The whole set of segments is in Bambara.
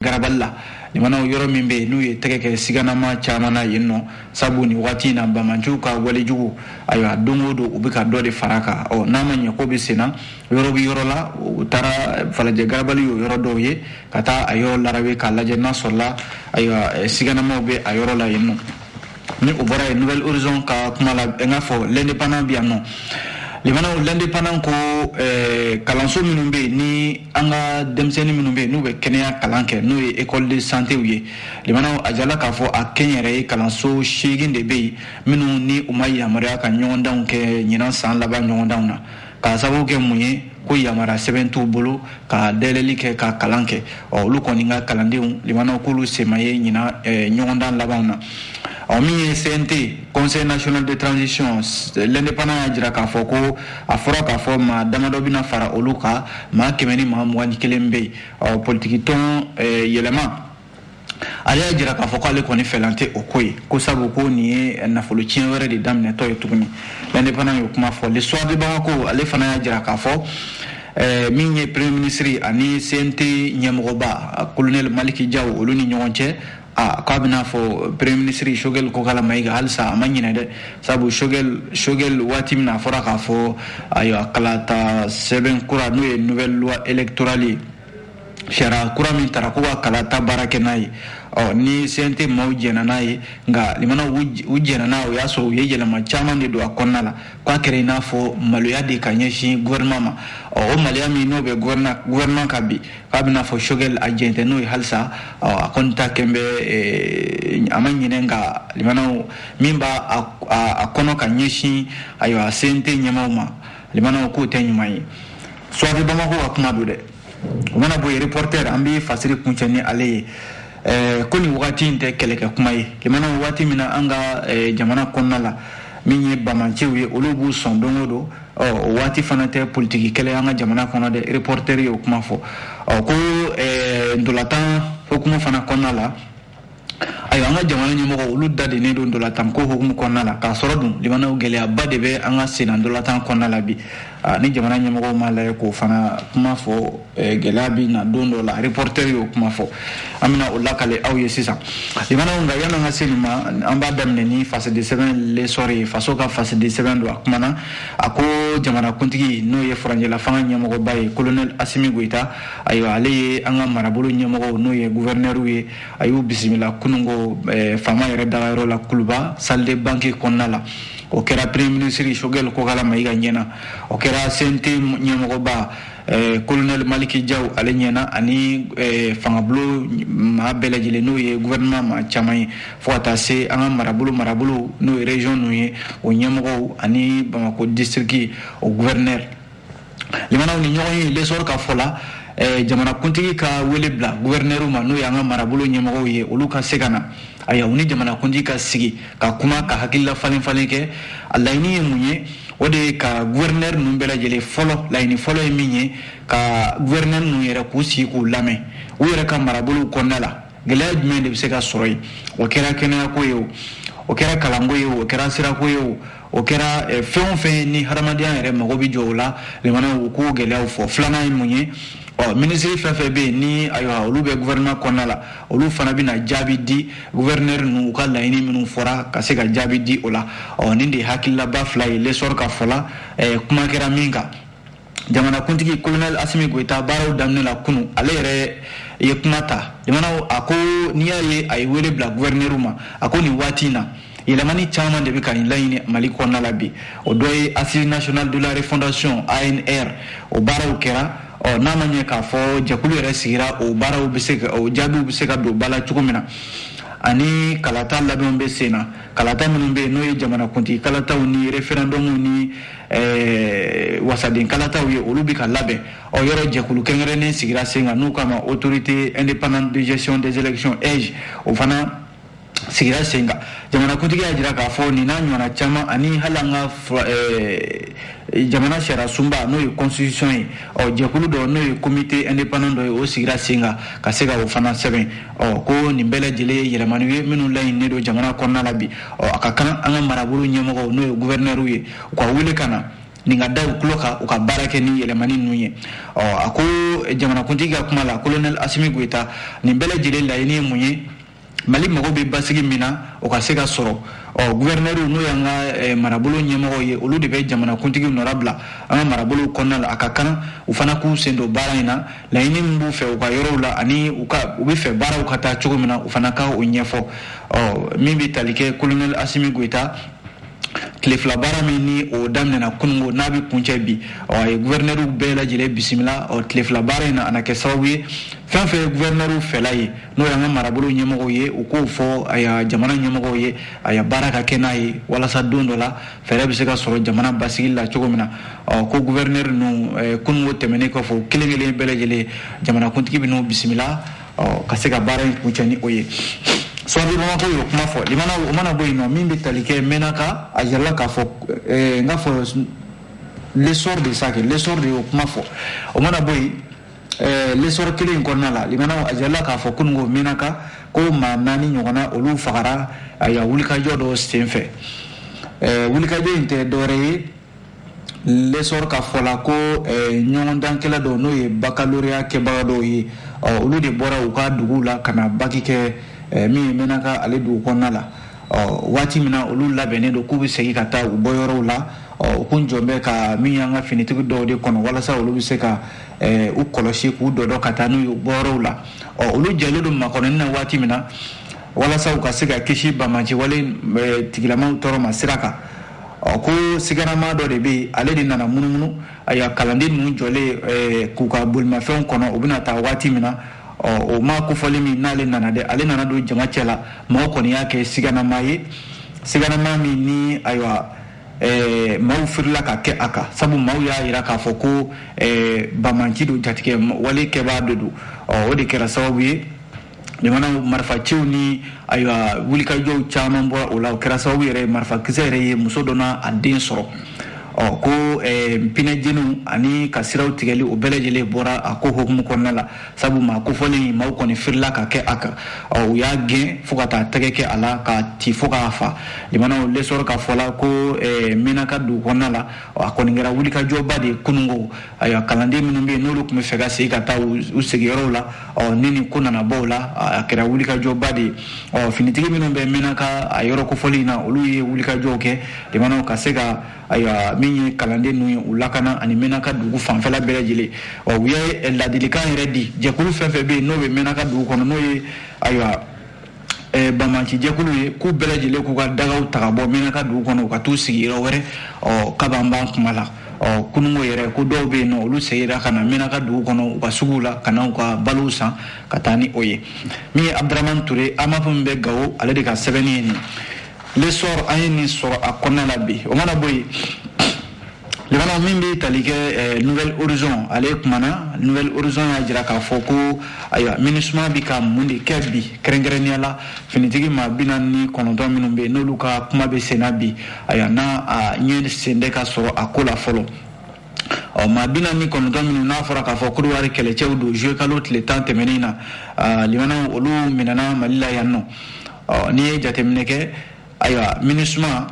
garabali la limanaw yɔrɔ min bɛ yen n'u ye tɛgɛ kɛ siganama caman na yen nɔ sabu nin waati in na banbaanciw ka walejugu ayiwa don o don u bɛ ka dɔ de fara a kan ɔ n'a ma ɲɛ ko bɛ senna yɔrɔ bɛ yɔrɔ la u taara falajɛ garabali y'o yɔrɔ dɔw ye ka taa a yɔrɔ larabe k'a lajɛ n'a sɔrɔla ayiwa siganamaw bɛ a yɔrɔ la yen nɔ ni o bɔra yen nouvel horizon ka kuma la n k'a fɔ l'indépendant bɛ yan nɔ limanaw l'indépendant ko eh, kalanso minnu bɛ yen ni an ka denmisɛnnin minnu bɛ yen n'u bɛ kɛnɛya kalan kɛ n'o ye école de santew ye limanaw a jirala k'a fɔ a kɛnyɛrɛye kalanso seegin de bɛ yen minnu ni u ma yamaruya ka ɲɔgɔndanw kɛ ɲinan san laban ɲɔgɔndanw na k'a sababu kɛ mun ye ko yamara sɛbɛn t'u bolo ka dayɛlɛli kɛ ka kalan kɛ ɔ olu kɔni ka kalandenw limanaw k'olu sen ma ye ɲinan eh, ɲɔgɔndan labanw na ɔ min ye cnt conseil national de transition l'indépendant y'a jira k'a fɔ ko a fɔra k'a fɔ maa damadɔ bɛna fara olu kan maa kɛmɛ ni maa mugan ni kelen bɛ yen ɔ politikitɔn eh, yɛlɛma ale y'a jira k'a fɔ k'ale kɔni fɛla tɛ o ko ye ko sabu ko nin ye nafolo tiɲɛ wɛrɛ de daminɛtɔ ye tuguni l'indépendant y'o kuma fɔ le soir de bamako ale fana y'a jira k'a fɔ eh, min ye premier ministre ani cnt ɲɛmɔgɔba colonel maliki jaw olu ni ɲɔgɔn cɛ a k'a b'i n'a fɔ premier ministre shogel kokala mayiga halisa a ma ɲinɛ dɛ sabu shogel shogel waati min na a fɔra k'a fɔ ayiwa kalata sɛbɛn kura n'o ye nouvelle loi électorale ye sariya kura min tara ko ka kalata baara kɛ n'a ye ɔ ni cnt maaw jɛnna n'a ye nka limanaw u jɛnna n'a o y'a sɔrɔ u ye yɛlɛma caman de don a kɔnɔna la k'a kɛra i n'a fɔ maloya de ka ɲɛsin gouvernement ma ɔ o maloya min n'o bɛ gouvernement kan bi k'a b'i n'a fɔ shogel a jɛnnen tɛ n'o ye halisa ɔ a kɔni ta kɛn bɛ eh, a ma ɲinɛ nka limanaw min b'a a kɔnɔ ka ɲɛsin ayiwa cnt ɲɛmaaw ma limanaw k'o tɛ ɲuman ye soir de bamako ka kuma don dɛ o mana bɔ yen reporter an bɛ fasiri kuncɛ ni ale ye eh, ko nin wagati in tɛ kɛlɛkɛ kuma ye limana waati min na an ka eh, jamana kɔnɔna la min ye banbaanciw ye olu b'u sɔn don o don o waati fana tɛ politiki kɛlɛ an ka jamana kɔnɔ dɛ reporter ye o kuma fɔ ko eh, ntolatan hukumu fana kɔnɔna la ayiwa an ka jamana ɲɛmɔgɔ olu da dennen don ntolatan ko hukumu kɔnɔna la k'a sɔrɔ dun limanaw gɛlɛyaba de bɛ an ka senna ntolatan kɔnɔna la bi ni jamana ɲɛmɔgɔ ma lajɛ k'o fana kuma fɔ gɛlɛya bɛ na don dɔ la reporter y'o kuma fɔ an bɛna o lakale aw ye sisan limanaw nka yan'an ka se nin ma an b'a daminɛ ni fasiri sɛbɛn l'essor ye faso ka fasiri sɛbɛn don a kumana a ko jamanakuntigi n'o ye furancɛla fanga ɲɛmɔgɔba ye colonel asimi goyita ayiwa ale ye an ka marabolo ɲɛmɔgɔw n'o ye guvɛrinɛriw ye a y'u bisimila kunungo eh, faama yɛrɛ dagayɔrɔ la kuluba salle des banquets kɔnɔna la o kɛra premier minisiri sogɛl kokala mayiga ɲɛna o kɛra cnt ɲɛmɔgɔba eh, kolonɛli maliki jaw ale ɲɛna ani eh, fangabolo maa bɛɛ lajɛlen n'o ye guvɛrɛnɛman maa caman ye fo ka taa se an ka marabolo marabolo n'o ye region ninnu ye o ɲɛmɔgɔw ani bamako distriki o guvɛrinɛri limana nin ɲɔgɔnye l'essor ka fɔ la eh, jamanakuntigi ka wele bila guvɛrinɛriw ma n'o y'an ka marabolo ɲɛmɔgɔw ye olu ka se ka na ayiwa u ni jamanakuntigi ka sigi ka kuma ka hakilila falen falen kɛ a laɲini ye mun ye o de ye ka guvɛrinɛri ninnu bɛɛ lajɛlen fɔlɔ laɲini fɔlɔ ye min ye ka guvɛrinɛri ninnu yɛrɛ k'u sigi k'u lamɛn u yɛrɛ ka marabolow kɔnɔna la gɛlɛya jumɛn de bɛ se ka sɔrɔ yen o kɛra kɛnɛyako ye o o kɛra kalanko ye o o kɛra sirako ye o o kɛra eh, fɛn o fɛn ni hadamadenya yɛrɛ mago bɛ jɔ o la limana u k'o gɛlɛyaw fɔ filanan ye mun ye ɔ minisiri fɛn fɛn bɛ yen ni ayiwa olu bɛ gouvernement kɔnɔna la olu fana bɛna jaabi di gouverneur ninnu u ka laɲini minnu fɔra ka se ka jaabi di o la ɔ nin de ye hakililaba fila ye l'essor ka fɔ la eh, kuma kɛra min kan jamanakuntigi kolonɛli asimi goyita baaraw daminɛ la kunu ale yɛrɛ ye kuma ta jamanaw a ko n'i y'a ye a ye wele bila guvɛrinɛriw ma a ko nin waati in na yɛlɛmani caman de bɛ ka laɲini mali kɔnɔna la bi o dɔ ye assises nationales de la refondation anr o baaraw kɛra ɔ n'a ma ɲɛ k'a fɔ jɛkulu yɛrɛ sigira o baaraw bɛ se ka o jaabiw bɛ se ka don ba la cogo min na ani kalata labɛnw bɛ sen na kalata minnu bɛ yen n'o ye jamanakuntigi kalataw ni referendɔmw ni eh, wasaden kalataw ye olu bɛ ka labɛn ɔ yɔrɔ jɛkulu kɛrɛnkɛrɛnnen sigira sen kan n'u k'a ma autorité indépendante de gestion des élections aige o fana sigira sen kan jamanakuntigi y'a jira k'a fɔ nin n'a ɲɔgɔnna caman ani hali an ka eh, jamana sariya sunba n'o ye constitution ye ɔ jɛkulu dɔ n'o ye comité indépendant dɔ ye o sigira sen kan ka se ka o fana sɛbɛn ɔ ko nin bɛɛ lajɛlen ye yɛlɛmaniw ye minnu laɲininen don jamana kɔnɔna la bi ɔ a ka kan an ka marabolo ɲɛmɔgɔw n'o ye guvɛrinɛriw ye u ka wele ka na nin ka da u tulo kan u ka baara kɛ ni yɛlɛmani ninnu ye ɔ a ko jamanakuntigi ka kuma la kolonɛli asimi goyita nin bɛɛ lajɛlen laɲini ye mun ye mali mago bɛ basigi min na o ka se ka sɔrɔ ɔ guvɛrinɛriw n'o y'an ka eh, marabolo ɲɛmɔgɔw ye olu de bɛ jamanakuntigi nɔra bila an ka marabolow kɔnɔna la a ka kan u fana k'u sen don baara in na laɲini min b'u fɛ u ka yɔrɔw la ani u ka u bɛ fɛ baaraw ka taa cogo min na u fana ka o ɲɛfɔ ɔ min bɛ tali kɛ kolonɛli asimi goyita tile fila baara min ni o daminɛna kunungo n'a bɛ kuncɛ bi ɔ a ye guvɛrinɛriw bɛɛ lajɛlen bisimila ɔ tile fila baara in na a na kɛ sababu ye fɛn fɛn ye guvɛrinɛriw fɛla ye n'o y'an ka marabolo ɲɛmɔgɔw ye u k'o fɔ ayiwa jamana ɲɛmɔgɔw ye ayiwa baara ka kɛ n'a ye walasa don dɔ la fɛɛrɛ bɛ se ka sɔrɔ jamana basigi la cogo min na ko guvɛrinɛri ninnu eh, kunungo tɛmɛnen kɔfɛ o kelen kelen bɛɛ lajɛlen jamanakuntigi bɛ n'u bisimila ka se ka baara in kuncɛ ni o ye soir de bamakɔ y'o kuma fɔ limana o mana bɔ yen ɔ min bɛ tali kɛ mɛnaka a jirala k'a fɔ eh, n k'a fɔ l'essor de ça que l'essor de y'o kuma fɔ o mana bɔ yen l'essor kelen in kɔnɔna la limana a jirala k'a fɔ ko mɛnaka ko maa naani ɲɔgɔnna olu fagara ayiwa wulikajɔ dɔ senfɛ wulikajɔ in tɛ dɔwɛrɛ ye l'essor ka fɔ la ko ɲɔgɔndankɛla dɔ n'o ye baccalauréat kɛbaga dɔw ye olu de bɔra u ka dugu la ka na baki kɛ min mɛnaka ale dugu kɔnɔna la ɔ waati min na olu labɛnnen don k'u bɛ segin ka taa u bɔyɔrɔw la ɔ u kun jɔlen bɛ ka min y'an ka finitigi dɔw de kɔnɔ walasa olu bɛ se ka eh, u kɔlɔsi k'u dɔdɔ ka taa n'u ye bɔyɔrɔw la ɔ olu jɔlen don makɔnɔni na waati min na walasa u ka se ka kisi banbaanciwale eh, tigilamaw tɔɔrɔ ma sira kan ɔ ko siganama dɔ de bɛ yen ale de nana munumunu ayiwa kalanden ninnu jɔlen eh, k'u ka bolimafɛnw kɔnɔ u bɛna taa waati min na ɔ o maa kofɔlen min n'ale nana dɛ ale nana don jama cɛ la mɔgɔ kɔni y'a kɛ siganama ye siganama min ni ayiwa ɛɛ maaw firila ka kɛ a kan sabu maaw y'a jira k'a fɔ ko ɛɛ banbaanci don jatigɛwale kɛbaa de don ɔ o de kɛra sababu ye jamana marifaciw ni ayiwa wulikajɔw caman bɔra o la o kɛra sababu yɛrɛ ye marifakisɛ yɛrɛ ye muso dɔ n'a den sɔrɔ ɔ ko ɛɛ pinɛjeniw ani ka siraw tigɛli o bɛɛ lajɛlen bɔra a ko hukumu kɔnɔna la sabu maa kofɔlen maaw kɔni firila ka kɛ a kan u y'a gɛn fo ka taa tɛgɛ kɛ a la k'a ci fo k'a faa limana l'essor ka fɔ la ko eh, mɛnaka dugu kɔnɔna la a kɔni kɛra wulikajɔba de ye kunungo ayiwa kalanden minnu bɛ yen n'olu tun bɛ fɛ ka segin ka taa u sigiyɔrɔw la ɔ ni nin ko nana bɔ o la a kɛra wulikajɔba de ye ɔ finitigi minnu bɛ mɛnaka a yɔrɔ kofɔlen in na olu ye wulikajɔw kɛ limana ka se ka ayiwa min ye kalanden ninnu ye u lakana ani mɛnaka dugu fanfɛla bɛɛ lajɛlen ɔ u ye ladilikan yɛrɛ di jɛkulu fɛn fɛn bɛ yen n'o bɛ mɛnaka dugu kɔnɔ n'o ye ayiwa Eh, banbaanci jɛkulu ye k'u bɛɛ lajɛlen k'u ka dagaw ta ka bɔ mɛnaka dugu kɔnɔ u ka t'u sigi yɔrɔ wɛrɛ ɔ kaban b'an kuma la ɔ kunungo yɛrɛ ko dɔw bɛ yen n'olu segira ka na mɛnaka dugu kɔnɔ u ka suguw la ka na u ka balow san ka taa ni o ye min ye abudurahmani ture AMAP min bɛ gawo ale de ka sɛbɛnni ye nin l'essor an ye nin sɔrɔ a kɔnɔna la bi o mana bɔ yen limana min bɛ tali kɛ eh, nouvel horizon ale kumana nouvel horizon y'a jira k'a fɔ ko ayiwa MINUSMA bɛ ka mun de kɛ bi kɛrɛnkɛrɛnnenya la finitigi maa bi naani ni kɔnɔntɔn minnu bɛ yen n'olu ka kuma bɛ senna bi ayiwa n'a a ɲɛ sen tɛ ka sɔrɔ a ko la fɔlɔ ɔ maa bi naani ni kɔnɔntɔn minnu n'a fɔra k'a fɔ kodowari kɛlɛcɛw don juwe kalo tile tan tɛmɛnen na limanaw olu minɛna mali la yan nɔ ɔ n'i ye jateminɛ kɛ ayiwa minisuma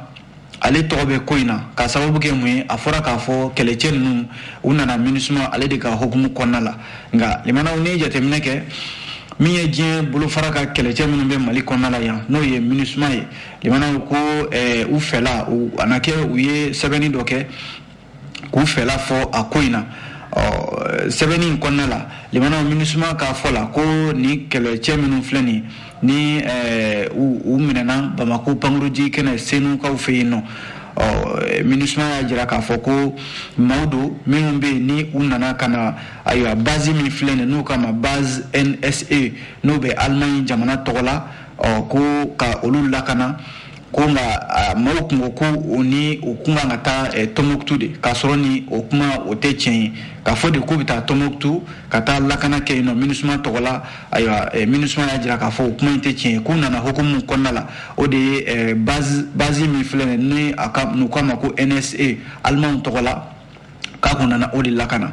ale tɔgɔ bɛ ko in na ka sababu kɛ mun ye a fɔra k'a fɔ kɛlɛcɛ ninnu u nana minisuma ale de ka hukumu kɔnɔna la nka limanaw n'i ye jateminɛ kɛ min ye diɲɛ bolofara ka kɛlɛcɛ minnu bɛ mali kɔnɔna la yan n'o ye minisuma ye limanaw ko u fɛla a na kɛ u ye sɛbɛnni dɔ kɛ k'u fɛla fɔ a ko in na ɔ sɛbɛnni in kɔnɔna la limanaw minisuma ka fɔ la ko nin kɛlɛcɛ minnu filɛ nin ni eh, u minɛna bamako pankurunjigi kɛnɛ senukaw fɛ yen nɔ ɔ minisuma y'a jira k'a fɔ ko maaw don minnu bɛ yen ni u nana ka na ayiwa bazi min filɛ nin n'u k'a ma base nse n'o bɛ alimaɲi jamana tɔgɔ la ɔ ko ka olu lakana ko nka maaw kun ko ko u ni u kun kan ka taa eh, tɔnbukutu de k'a sɔrɔ ni o kuma o tɛ tiɲɛ ye k'a fɔ de k'u bɛ taa tɔnbukutu ka taa lakana kɛ yen nɔ minisuma tɔgɔ la ayiwa eh, minisuma y'a jira k'a fɔ o kuma in tɛ tiɲɛ ye k'u nana hukumu min kɔnɔna la o de ye eh, bazi min filɛ nin ni a ka n'u k'a ma ko nse alimanw tɔgɔ la k'a kun nana o de lakana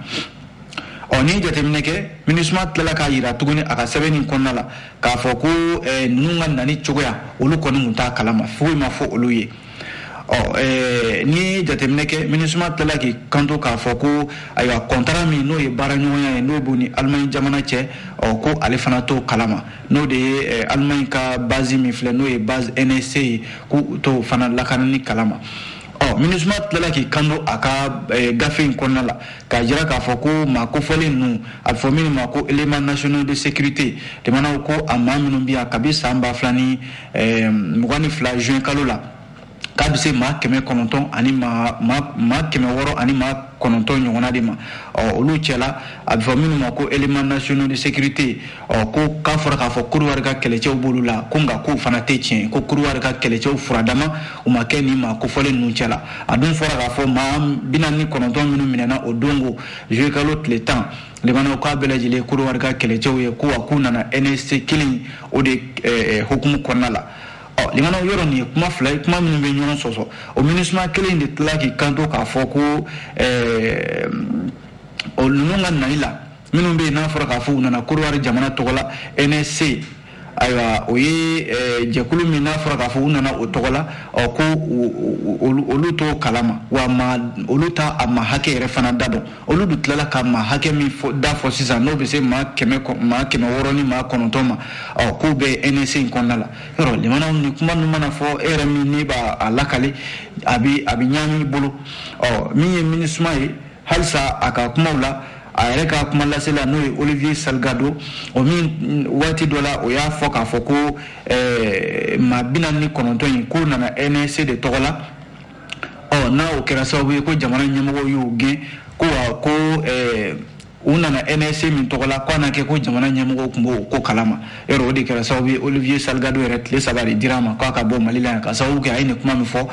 ɔ n'i ye jateminɛ kɛ minisuma tilala k'a yira tuguni a ka sɛbɛn nin kɔnɔna la k'a fɔ ko eh, ninnu ka nani cogoya olu kɔni tun t'a kalama foyi ma fɔ olu ye ɔ eh, n'i ye jateminɛ kɛ minisuma tilala k'i kanto k'a fɔ ko ayiwa kɔntara min n'o ye baaraɲɔgɔnya ye n'o b'u ni alimaɲi jamana cɛ ɔ ko ale fana t'o kalama n'o de ye eh, alimaɲi ka bazi min filɛ n'o ye bazi nsc ye k'u t'o fana lakanani kalama ɔ minisuma tilala k'i kanto a ka eh, gafe in kɔnɔna la k'a jira k'a fɔ ko maa kofɔlen ninnu a bɛ fɔ minnu ma ko éléments nationaux de sécurité jamanaw ko a maa minnu bɛ yan kabi san ba fila ni eh, mugan ni fila juin kalo la k'a bɛ se maa kɛmɛ kɔnɔntɔn ani maa maa kɛmɛ wɔɔrɔ ani maa kɔnɔntɔn ɲɔgɔnna de ma ɔ olu cɛla a bɛ fɔ minnu ma ko éléments nationaux de sécurité ɔ ko k'a fɔra k'a fɔ Kodowari ka kɛlɛcɛw b'olu la ko nka k'o fana tɛ tiɲɛ ko Kodowari ka kɛlɛcɛw furadama u ma kɛ nin maa kofɔlen ninnu cɛ la a dun fɔra k'a fɔ maa bi naani ni kɔnɔntɔn minnu minɛna o don ko juwe kalo tile tan limanaw k'a bɛɛ lajɛlen Kodowari ka kɛlɛcɛw ye ko wa k'u nana NSC kelen o de eh, eh, hukumu kɔnɔna la ɔ limanaw yɔrɔ nin ye kuma fila ye kuma minnu bɛ ɲɔgɔn sɔsɔ o minisuma kelen de tila k'i kanto k'a fɔ ko eh, o ninnu ka nali la minnu bɛ yen n'a fɔra k'a fɔ u nana Kodowari jamana tɔgɔ la NSC ayiwa o ye eh, jɛkulu min n'a fɔra k'a fɔ u nana o tɔgɔ la ɔ ko olu t'o kalama wa ma olu t'a maa hakɛ yɛrɛ fana da dɔn olu dun tilala ka maa hakɛ min da fɔ sisan n'o bɛ se maa kɛmɛ maa kɛmɛ wɔɔrɔ ni maa kɔnɔntɔn ma ɔ k'o bɛ NSC in kɔnɔna la yɔrɔ limanaw nin kuma ninnu mana fɔ e yɛrɛ min n'i b'a a lakale a bɛ a bɛ ɲaami i bolo ɔ min ye minisuma ye halisa a ka kumaw la a yɛrɛ ka kuma lasela n'o ye olivier salgado o min waati dɔ la o y'a fɔ k'a fɔ ko eh, maa bi naani ni kɔnɔntɔn in k'o nana NSC de tɔgɔ la ɔ n'a o kɛra sababu ye ko jamana ɲɛmɔgɔw y'o gɛn ko wa ko eh, u nana NSC min tɔgɔ la k'a na kɛ ko jamana ɲɛmɔgɔw tun b'o ko kalama yɔrɔ o de kɛra sababu ye olivier salgado yɛrɛ tile saba de dira a ma k'a ka bɔ mali la yan ka sababu kɛ a ye nin kuma min fɔ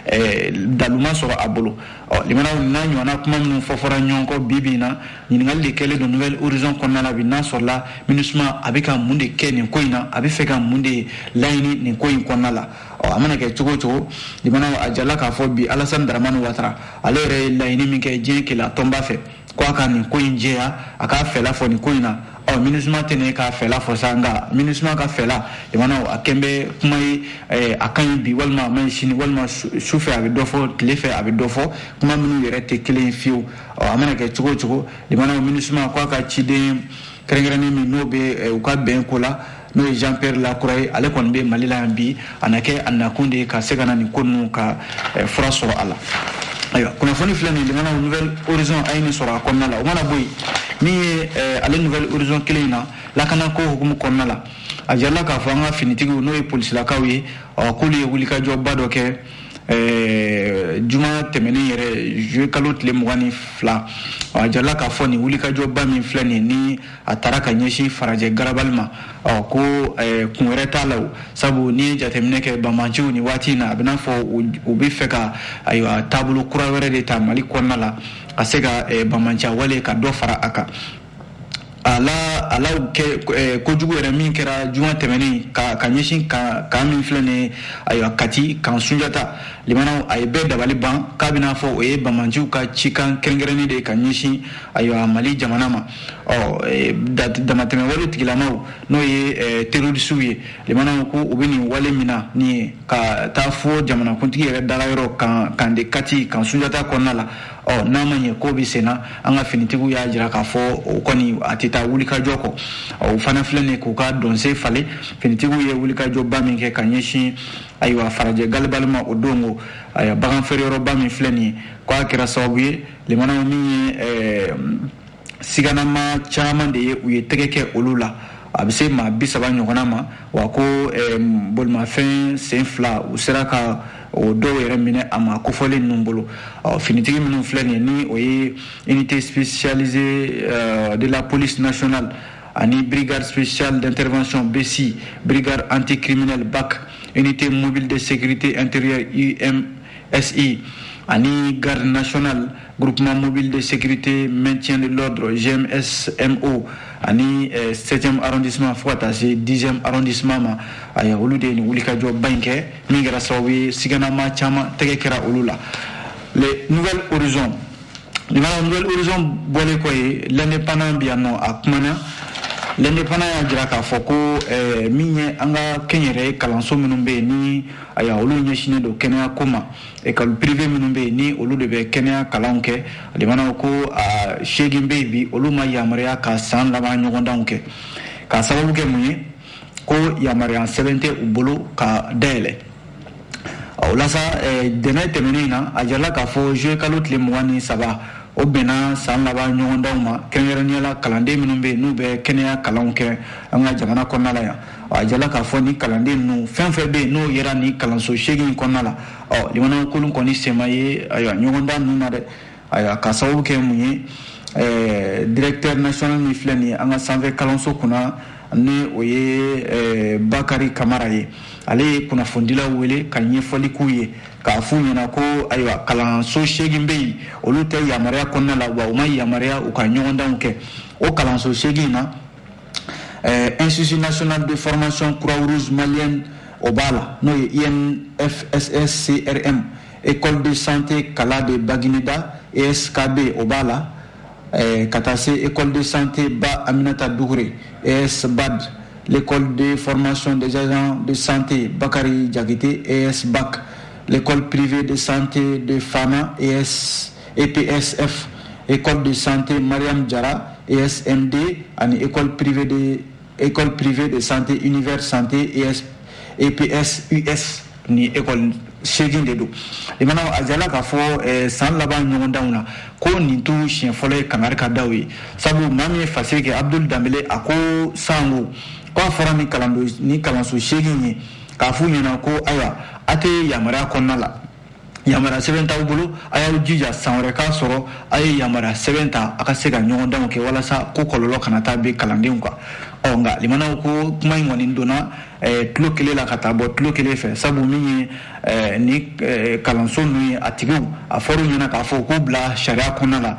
eh, dalu ma sɔrɔ a bolo ɔ limanaw n'a ɲɔgɔnna kuma minnu fɔ fɔra ɲɔgɔn kɔ bi bi in na ɲininkali de kɛlen don nouvel horizon kɔnɔna la bi n'a sɔrɔla minusuma a bɛ ka mun de kɛ nin ko in na a bɛ fɛ ka mun de laɲini nin ko in kɔnɔna la ɔ a mana kɛ cogo o cogo limanaw a jala k'a fɔ bi alasani daramani watara ale yɛrɛ ye laɲini min kɛ diɲɛ kelenya tɔnba fɛ ko a ka nin ko in jɛya a k'a fɛla fɔ nin ko in na ɔ minusuma tɛ ne k'a fɛla fɔ sa nka minusuma ka fɛla limanaw a kɛn bɛ kuma ye eh, a ka ɲi bi walima a man ɲi sini walima su fɛ a bɛ dɔ fɔ tile fɛ a bɛ dɔ fɔ kuma minnu yɛrɛ tɛ kelen ye fiyewu ɔ a mana kɛ cogo o cogo limanaw minusuma ko a ka ciden kɛrɛnkɛrɛnnen min n'o bɛ eh, u ka bɛn ko la n'o ye jean pierre lacroix ye ale kɔni bɛ mali la yan bi a na kɛ a nakun de ye ka se ka na nin ko ninnu ka eh, fura sɔrɔ a la ayiwa kunnafoni filɛ nin limanaw nouvel horizon a ye nin sɔrɔ a kɔnɔna la o mana bɔ yen min ye eh, ale nouvel horizon kelen in na lakanako hukumu kɔnɔna la a jarala k'a fɔ an ka finitigiw n'o ye polisilakaw ye k'olu ye wulikajɔba dɔ kɛ eh, juma tɛmɛnen yɛrɛ juillet kalo tile mugan ni fila a jarala k'a fɔ nin wulikajɔba min filɛ nin ni a taara ka ɲɛsin farajɛ garabali ma ɔ ko kun wɛrɛ t'a la sabu n'i ye jateminɛ kɛ bamanciw nin waati in na a bɛ n'a fɔ u bɛ fɛ ka ayiwa taabolo kura wɛrɛ de ta mali kɔnɔna la ka se ka bamanciya wale ka dɔ fara a kan ala ala kojugu yɛrɛ min kɛra juma tɛmɛnen ka ka ɲɛsin kan min filɛ nin ayiwa kati kan sunjata limanaw a ye bɛɛ dabali ban k'a bɛ n'a fɔ o ye bamanciw ka cikan kɛrɛnkɛrɛnnen de ka ɲɛsin ayiwa mali jamana ma ɔ eh, damatɛmɛ wale tigilamaw n'o ye eh, terorisiw ye limanaw ko u bɛ nin wale min na nin ye ka taa fo jamanakuntigi yɛrɛ dagayɔrɔ kan kan de kati kan sunjata kɔnɔna la ɔ n'a ma ɲɛ ko bɛ senna an ka finitigiw y'a jira k'a fɔ o kɔni a tɛ taa wulikajɔ kɔ o fana filɛ nin k'u ka dɔnse falen finitigiw ye wulikajɔba min kɛ ka ɲɛsin ayiwa farajɛ garabali ma o don ko ayiwa bagan feereyɔrɔba min filɛ nin ye k'a kɛra sababu ye limanaw min ye eh, siganama caman de ye u ye tɛgɛ kɛ olu la a bɛ se maa bi saba ɲɔgɔnna ma wa ko eh, bolimafɛn sen fila u sera ka o dɔw yɛrɛ minɛ a maa kofɔlen ninnu bolo finitigi minnu filɛ nin ye ni o ye unité spécialisée eh, de la police nationale ani brigade spéciale d'intervention BSI brigade anticriminelle BAC unité mobile de sécurité intérieure UMSI ani garde nationale Groupement mobile de sécurité maintien de l'ordre GMSMO ani eh, 7e arrondissement fo ka taa se 10e arrondissement ma aya olu de ye nin wulikajɔba in kɛ min kɛra sababu ye siganama caman tɛgɛ kɛra olu la les Nouvel Horizon nin fana Nouvel Horizon bɔlen kɔ ye l'indépendant bi yan nɔ a kumana l'indépendant y'a jira k'a fɔ ko eh, min ye an ka kɛnyɛrɛye kalanso minnu bɛ yen ni aya olu ɲɛsinnen don kɛnɛya ko ma école privée minnu bɛ yen ni olu de bɛ kɛnɛya kalanw kɛ a demana ko seegin bɛ yen bi olu ma yamaruya ka san laban ɲɔgɔndanw kɛ k'a sababu kɛ mun ye ko yamaruya sɛbɛn tɛ u bolo ka dayɛlɛ o la sa ntɛnɛn tɛmɛnen in na a jirala k'a fɔ zuye kalo tile mugan ni saba o bɛnna san laban ɲɔgɔndanw ma kɛrɛnkɛrɛnnenya la kalanden minnu bɛ yen n'u bɛ kɛnɛya kalanw kɛ an ka jamana kɔnɔna la yan a jirala k'a fɔ ni kalanden ninnu fɛn fɛn bɛ yen n'u yera nin kalanso seegin kɔnɔna la ɔ limanaw k'olu kɔni sen ma ye ayiwa ɲɔgɔndan ninnu na dɛ ayiwa k'a sababu kɛ mun ye ɛɛ directeur national min filɛ nin ye an ka sanfɛ kalanso kunna ni o ye ɛɛ bakari kamara ye ale ye kunnafonidilaw wele ka ɲɛfɔli k'u ye k'a f'u ɲɛna ko ayiwa kalanso seegin bɛ yen olu tɛ yamaruya kɔnɔna la wa u ma yamaruya u ka ɲɔgɔndanw kɛ o kalanso seegin na eh, institut national de formation croix rouge malienne o b'a la n'o ye infsscrm école de santé kala de bagineda eskb o b'a la eh, ka taa se école de santé ba aminata dukure esbad l'école de formation des agents de santé bakari jakite esbac l'école privée de santé de fana es EPSF, École de santé Mariam Diarra, ESMD, ani l'école privée de école privée de santé univers santé ES, EPSUS ni école seegin de don i mana a jirala k'a fɔ eh, san laban ɲɔgɔndanw na ko nin t'u siɲɛ fɔlɔ ye kangari ka da u ye sabu maa min ye fasiri kɛ abdul danbele a ko sango ko a fɔra ni kalanso seegin ye k'a f'u ɲɛna ko ayiwa a tɛ yamaruya kɔnɔna la yamaruya sɛbɛn t'aw bolo a y'aw jija san wɛrɛ k'a sɔrɔ a ye yamaruya sɛbɛn ta a ka se ka ɲɔgɔndanw kɛ walasa ko kɔlɔlɔ kana taa bin kalandenw kan ɔ nka limanaw ko kuma in kɔni donna eh, tulo kelen la ka taa bɔ tulo kelen fɛ sabu min ye eh, ni eh, kalanso ninnu ye a tigiw a fɔr'u ɲɛna k'a fɔ k'u bila sariya kɔnɔna la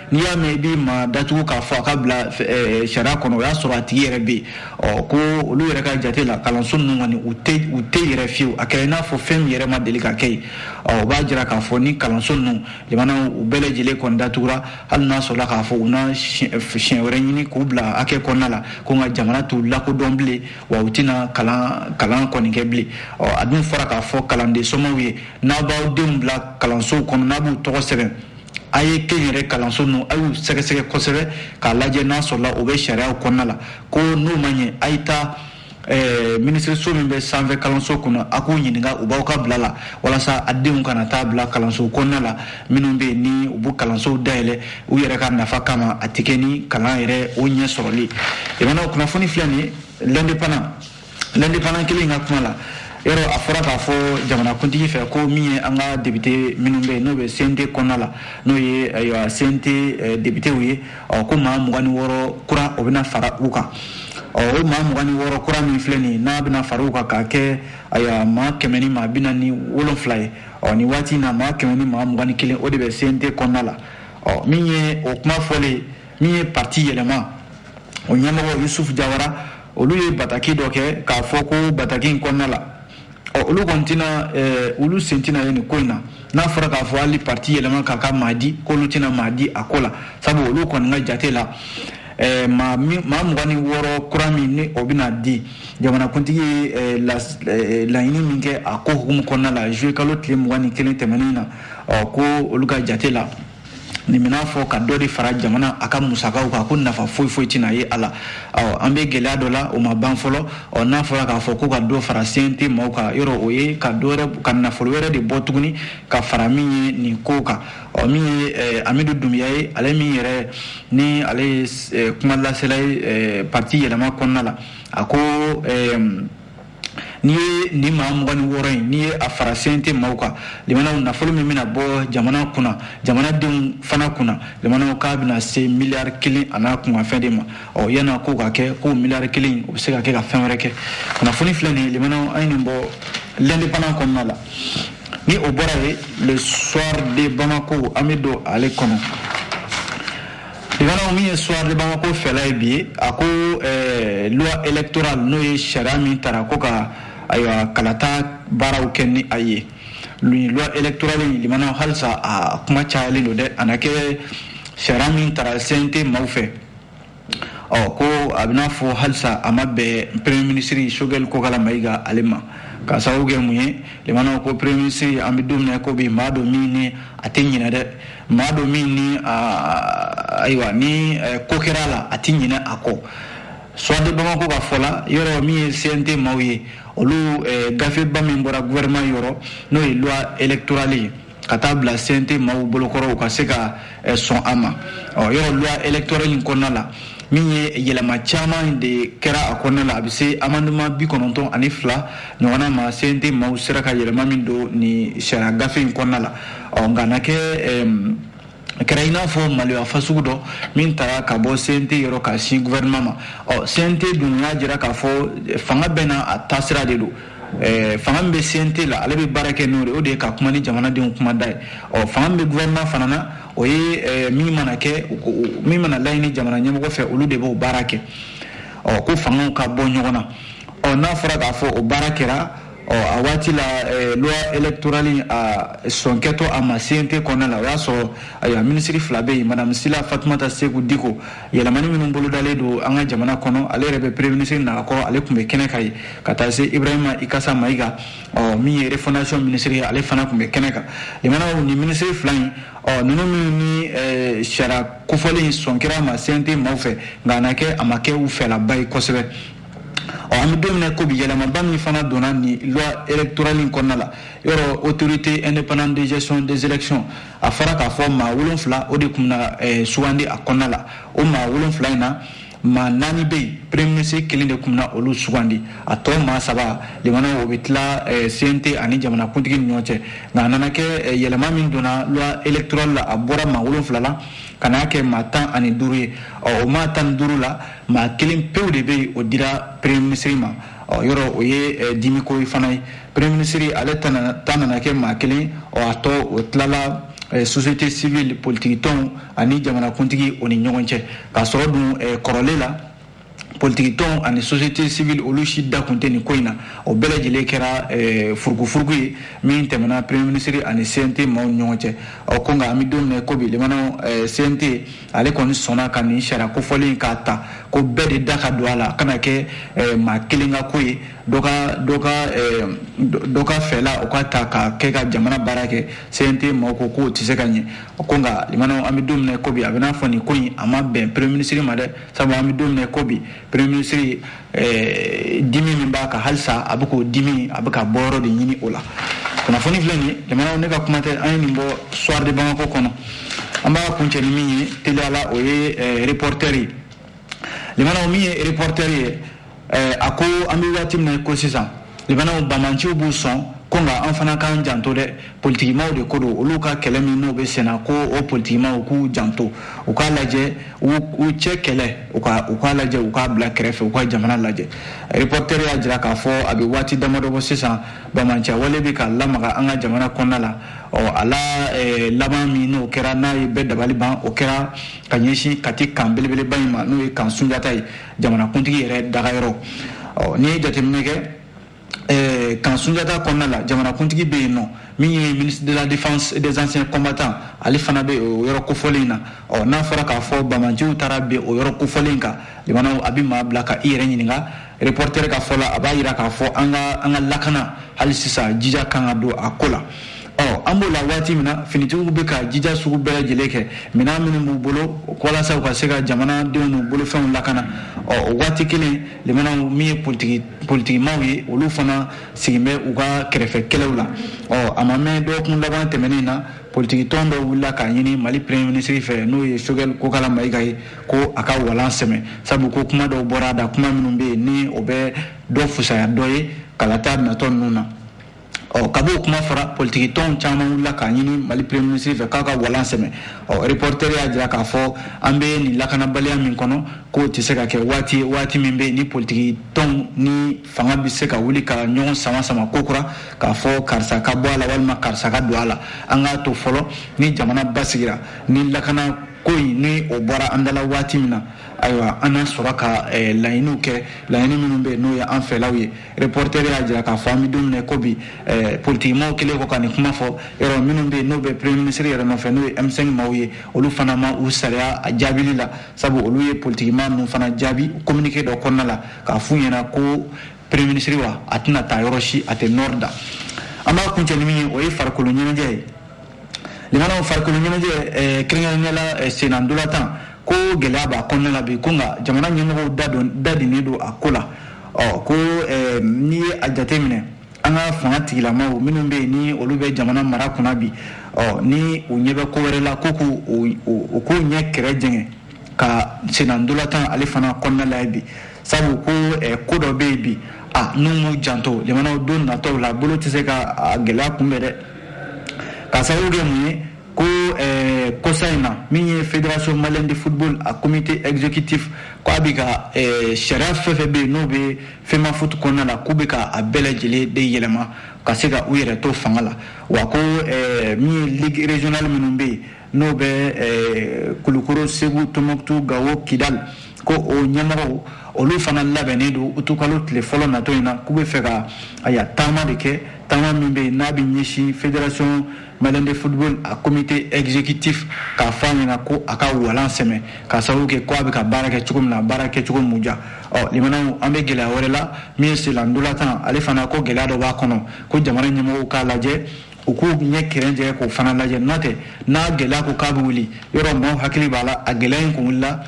n'i y'a mɛn i b'i ma datugu k'a fɔ a ka bila eh, sariya kɔnɔ o y'a sɔrɔ a tigi yɛrɛ bɛ yen ɔ ko olu yɛrɛ ka jate la kalanso ninnu kɔni u tɛ u tɛ yɛrɛ fiyewu a kɛra i n'a fɔ fɛn min yɛrɛ ma deli ka kɛ yen ɔ o b'a jira k'a fɔ ni kalanso ninnu limanaw u bɛɛ lajɛlen kɔni datugura hali n'a sɔrɔla k'a fɔ u na siɲɛ wɛrɛ ɲini k'u bila hakɛ kɔnɔna la ko nka jamana t'u lakodɔn bilen wa u tɛna kalan kalan kɔni kɛ bilen ɔ a dun fɔra k'a fɔ kalanden somɔgɔw ye n'a b'aw denw bila kalansow kɔnɔ n'a b'u tɔgɔ sɛbɛn a ye kɛnyɛrɛ kalanso ninnu a y'u sɛgɛsɛgɛ kosɛbɛ k'a lajɛ n'a sɔrɔla o bɛ sariyaw kɔnɔna la ko n'o ma ɲɛ a ye taa eh, minisiriso min bɛ sanfɛ kalanso kunna a k'u ɲininka u b'aw ka bila la walasa a denw kana taa bila kalanso kɔnɔna la minnu bɛ yen ni u b'u kalansow dayɛlɛ u yɛrɛ ka nafa kama a tɛ kɛ ni kalan yɛrɛ o ɲɛ sɔrɔli ye limanaw kunnafoni filɛ nin ye l'Indépendant l'Indépendant kelen ka kuma la yɔrɔ a fɔra k'a fɔ jamanakuntigi fɛ ko min ye an ka député minnu bɛ yen n'o bɛ CNT kɔnɔna la n'o ye ayiwa CNT eh, députéw ye ɔ ko maa mugan ni wɔɔrɔ kura o bɛna fara u kan ɔ o maa mugan ni wɔɔrɔ kura min filɛ nin ye n'a bɛna fara u kan k'a kɛ ayiwa maa kɛmɛ ni maa bi naani ni wolonfila ye ɔ nin waati in na maa kɛmɛ ni maa mugan ni kelen o de bɛ CNT kɔnɔna la ɔ min ye o kuma fɔlen min ye parti yɛlɛma o ɲɛmɔgɔ yusufu jawara olu ye bataki dɔ kɛ k'a fɔ ko bataki in kɔnɔna la ɔ olu kɔni tɛna eh, olu sen tɛna ye nin ko in na n'a fɔra k'a fɔ hali parti yɛlɛma k'a ka maa di k'olu tɛna maa di a ko la sabu olu kɔni ka jate la eh, maa mugan ni wɔɔrɔ kura min ni o bɛna di jamanakuntigi ye eh, laɲini min kɛ a ko hukumu kɔnɔna la juillet kalo tile mugan ni kelen tɛmɛnen na ɔ ko olu ka jate la nin bɛna fɔ ka dɔ de fara jamana a ka musakaw kan ko nafa foyi foyi tɛna ye a la ɔ an bɛ gɛlɛya dɔ la o ma ban fɔlɔ ɔ n'a fɔra k'a fɔ ko ka dɔ fara CNT maaw kan yɔrɔ o ye ka nafolo wɛrɛ de bɔ tuguni ka fara min ye nin ko kan ɔ min ye eh, Amidu Dunbiya ye ale min yɛrɛ ni ale ye eh, kuma lasela ye eh, parti yɛlɛma kɔnɔna la a ko eh, n'i ye nin maa mugan ni wɔɔrɔ in n'i ye a fara CNT maaw kan limanaw nafolo min bɛna bɔ jamana kunna jamanadenw fana kunna limanaw k'a bɛna se miliyari kelen an'a kunkanfɛn de ma ɔ yan'a ko ka kɛ ko miliyari kelen o bɛ se ka kɛ ka fɛn wɛrɛ kɛ kunnafoni filɛ nin ye limanaw an ye nin bɔ l'Indépendant kɔnɔna la ni o bɔra yen le soir de bamako an bɛ don ale kɔnɔ Limanaw min ye Soir de Bamako fɛla ye bi, a ko ɛɛ loi électorale n'o ye sariya min tara ko ka ayiwa kalata baaraw kɛ ni a ye. Nin loi électorale in limanaw halisa a kuma cayalen don dɛ, a na kɛ sariya min tara CNT maaw fɛ. Ɔ ko a bɛna fɔ halisa a ma bɛn premier ministre Choguel Kokala Mayiga ale ma. K'a sababu kɛ mun ye, limanaw ko premier ministre an bɛ don min na i ko bi, maa don min ni a tɛ ɲinɛ dɛ. maa don min ni ayiwa nin ko kɛra la a tɛ ɲinɛ a kɔ soir de bamako ka fɔ la yɔrɔ min ye cnt maaw ye olu gafeba min bɔra gouvernement yɔrɔ n'o ye loi électorale ye ka taa bila cnt maaw bolo kɔrɔ u ka se ka sɔn a ma ɔ yɔrɔ loi électorale in kɔnɔna la min ye yɛlɛma caman de kɛra a kɔnɔna la a bɛ se amendement bi kɔnɔntɔn ani fila ɲɔgɔn ma cnt maaw sera ka yɛlɛma min don nin sariya gafe in kɔnɔna la ɔ nka a na kɛ a kɛra i n'a fɔ maloya fasugu dɔ min taara ka bɔ cnt yɔrɔ ka sin gouvernement ma ɔ cnt dun y'a jira k'a fɔ fanga bɛɛ n'a taasira de don Eh, fanga min bɛ CNT la ale bɛ baara kɛ n'o de o de ye ka kuma ni jamanadenw kuma da ye ɔ fanga min bɛ gouvernement fana na o ye eh, min mana kɛ min mana laɲini jamana ɲɛmɔgɔ fɛ olu de b'o baara kɛ ɔ ko fangaw ka bɔ ɲɔgɔn na ɔ n'a fɔra k'a fɔ o baara kɛra ɔ a waati la eh, loi électorale a sɔnkɛtɔ a ma cnt kɔnɔna la o y'a sɔrɔ ayiwa minisiri fila bɛ yen madame sila fatumata seku diko yɛlɛmani minnu bolodalen don an ka jamana kɔnɔ ale yɛrɛ bɛ premier minisiri nakɔ ale tun bɛ kɛnɛ kan yen ka taa se ibrahima ikasa mayiga ɔ min ye refondation minisiri ye ale fana tun bɛ kɛnɛ kan limanaw nin minisiri fila in ɔ ninnu minnu ni eh, sariya kofɔlen sɔn kɛra a ma cnt maaw fɛ nka a na kɛ a ma kɛ u fɛlaba ye kosɛbɛ ɔ an bɛ don min na ko bi yɛlɛmaba min fana donna nin loi électorale in kɔnɔna la yɔrɔ autorité indépendante de gestion des élections a fɔra k'a fɔ maa wolonfila o de tun na eh, sugandi a kɔnɔna la o maa wolonfila in na maa naani bɛ yen premier ministre kelen de tun na olu sugandi a tɔ maa saba limana o bɛ tila eh, cnt ani jamanakuntigi ni ɲɔgɔn cɛ nka a nana kɛ eh, yɛlɛma min donna loi électorale la a bɔra maa wolonfila la ka n'a kɛ maa tan ani duuru ye ɔ o maa tan ni duuru la maa kelen pewu de bɛ yen o dira premier minisiri ma ɔ yɔrɔ o ye eh, dimiko ye fana ye premier minisiri ale ta nana kɛ maa kelen ɔ a tɔ o tilala eh, société civile politikitɔnw ani jamanakuntigi o ni ɲɔgɔn cɛ k'a sɔrɔ dun eh, kɔrɔlen la politikitɔn ani société civile olu si da kun tɛ nin ko in na o bɛɛ lajɛlen kɛra eh, furukufuruku ye min tɛmɛna premier minisiri ani cnt maaw ni ɲɔgɔn cɛ ɔ ko nka an bɛ don min na ko bi lemana eh, cnt ale kɔni sɔnna ka nin sariya kofɔlen in k'a ta ko bɛɛ de da ka don a la a kana kɛ eh, maa kelen ka ko ye dɔ ka dɔ ka eh, dɔ ka fɛla o ka ta ka kɛ ka jamana baara kɛ cnt maaw ko k'o tɛ se ka ɲɛ ko nka limanaw an bɛ don min na ko bi a bɛ n'a fɔ nin ko in a ma bɛn premier ministre ma dɛ sabu an bɛ don min na ko bi premier ministre dimi min b'a kan halisa a bɛ k'o dimi a bɛ ka bɔyɔrɔ de ɲini o la kunnafoni filɛ nin ye limanaw ne ka kuma tɛ an ye nin bɔ soir de bamako kɔnɔ an b'a kuncɛ ni min ye teliya la o ye reporter ye limanaw min ye reporter ye a ko an bɛ waati min na ko sisan limanaw banbaanciw b'u sɔn ko nka an fana k'an janto dɛ politikimaw de ko don olu ka kɛlɛ min n'o bɛ senna ko o politikimaw k'u janto u k'a lajɛ u cɛ kɛlɛ u k'a lajɛ u k'a bila kɛrɛfɛ u ka jamana lajɛ reporter y'a jira k'a fɔ a bɛ waati damadɔ bɔ sisan banbaanciya wale bɛ ka lamaga an ka jamana kɔnɔna la ɔ a la eh, laban min n'o kɛra n'a ye bɛɛ dabali ban o kɛra ka ɲɛsin kati kan belebeleba in ma n'o ye kan sunjata ye jamanakuntigi yɛrɛ dagayɔrɔ n'i ye jateminɛ kɛ Eh, kan sunjata kɔnɔna la jamanakuntigi bɛ yen ɔ min ye ministre de la défense des anciens combattants ale fana bɛ o yɔrɔ kofɔlen na ɔ n'a fɔra k'a fɔ banbaanciw taara bin o yɔrɔ kofɔlen kan limanaw a bɛ maa bila ka i yɛrɛ ɲininka reporter ka fɔ la a b'a jira k'a fɔ an ka an ka lakana hali sisan jija kan ka don a ko la ɔ an b'o la waati min na finitigiw bɛ ka jija sugu bɛɛ lajɛlen kɛ minɛn minnu b'u bolo walasa u ka se ka jamanadenw n'u bolofɛnw lakana ɔ o waati kelen limanaw min ye politiki politikimaw ye olu fana sigin bɛ u ka kɛrɛfɛ kɛlɛw la ɔ a ma mɛn dɔgɔkun laban tɛmɛnen na politikitɔn dɔ wulila k'a ɲini mali premier ministre fɛ n'o ye choguel kokalla maïga ye ko a ka walan sɛmɛ sabu ko kuma dɔw bɔra a da kuma minnu bɛ yen ni o bɛ dɔ fusaya dɔ ye kalata natɔ ninnu na ɔ kab'o kuma fɔra politiki tɔnw caman wulila k'a ɲini mali premier ministre fɛ k'a ka walan sɛmɛ ɔ reporter y'a jira k'a fɔ an bɛ nin lakanabaliya min kɔnɔ k'o tɛ se ka kɛ waati waati min bɛ yen ni politiki tɔnw ni fanga bɛ se ka wuli ka ɲɔgɔn sama sama ko kura k'a fɔ karisa ka bɔ a la walima karisa ka don a la an k'a to fɔlɔ ni jamana basigira ni lakana ko in ni o bɔra an dala waati min na ayiwa an na sɔrɔ ka eh, laɲiniw kɛ laɲini minnu bɛ n'o ye an fɛlaw ye reporter y'a jira k'a fɔ an bɛ don min na ko bi eh, politikimaw kɛlen kɔ ka nin kuma fɔ yɔrɔ minnu bɛ yen n'o bɛ premier ministre yɛrɛ nɔfɛ n'o ye M5 maaw ye olu fana ma u saliya a jaabili la sabu olu ye politikima ninnu fana jaabi communiqué dɔ kɔnɔna la k'a f'u ɲɛna ko premier ministre wa a tɛna taa yɔrɔ si a tɛ nord da an b'a kuncɛ ni min ye o ye farikolo ɲɛnajɛ ye limanaw farikolo ɲɛnajɛ eh, kɛrɛnkɛrɛnnenya la eh, sennantolatan ko gɛlɛya b'a kɔnɔna la bi ko nka jamana ɲɛmɔgɔw da don da dinnen don a ko la ɔ ko eh, n'i ye a jate minɛ an ka fanga tigilamaw minnu bɛ yen ni olu bɛ jamana mara kunna bi ɔ ni u ɲɛ bɛ ko wɛrɛ la ko k'u u k'u ɲɛ kɛrɛ jɛngɛ ka sennantolatan ale fana kɔnɔna lajɛ bi sabu ko ko dɔ bɛ yen bi a n'u m'u janto jamanaw don natɔw la bolo tɛ se ka gɛlɛya kunbɛn dɛ ka sababu kɛ mun ye ko eh, kosa in na min ye fédération malienne de football a comité exécutif ko a bɛ ka eh, sariya fɛn fɛn bɛ yen n'o bɛ femafoot kɔnɔna la k'u bɛ ka a bɛɛ lajɛlen de yɛlɛma ka se ka u yɛrɛ to fanga la wa ko eh, min ye ligue régionale minnu bɛ yen n'o bɛ eh, kulukoro segu tɔnbukutu gawo kidali ko o ɲɛmɔgɔw olu fana labɛnnen don utukalo tile fɔlɔ natɔ in na k'u bɛ fɛ ka aya taama de kɛ taama min bɛ yen n'a bɛ ɲɛsin fédération malienne de football a comité exécutif k'a fɔ a ɲɛna ko a ka walan sɛmɛ k'a sababu kɛ ko a bɛ ka baara kɛ cogo min na a baara kɛcogo m'u diya ɔ limanaw an bɛ gɛlɛya wɛrɛ la min ye senna ntolatan ale fana ko gɛlɛya dɔ b'a kɔnɔ ko jamana ɲɛmɔgɔw k'a lajɛ u k'u ɲɛ kɛrɛ jɛngɛ k'o fana lajɛ n'o tɛ n'a gɛlɛya ko k'a bɛ wuli yɔrɔ maaw hakili b'a la a gɛlɛya in kun wulila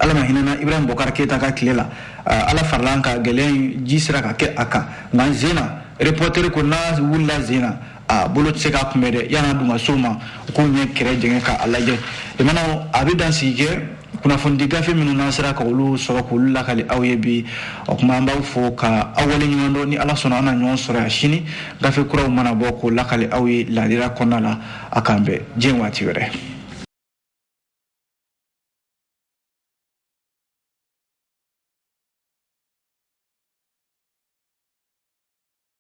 ala ma hinɛna ibrahim bɔkar keyita ka tile la ala farala an kan gɛlɛya in ji sera ka kɛ a kan nka nin sen na repɔteri ko n'a wulila nin sen na a bolo tɛ se k'a kunbɛn dɛ yan'a dun ka s'o ma u k'u ɲɛ kɛrɛ jɛngɛ k'a lajɛ limanaw a bɛ dan sigi kɛ kunnafonidi gafe minnu n'an sera ka olu sɔrɔ k'olu lakali aw ye bi o kuma an b'aw fo ka aw waleɲuman dɔn ni ala sɔnna an na ɲɔgɔn sɔrɔ yan sini gafe kuraw mana bɔ k'o lakali aw ye ladira kɔnɔna la a k'an bɛn diɲɛ waati wɛrɛ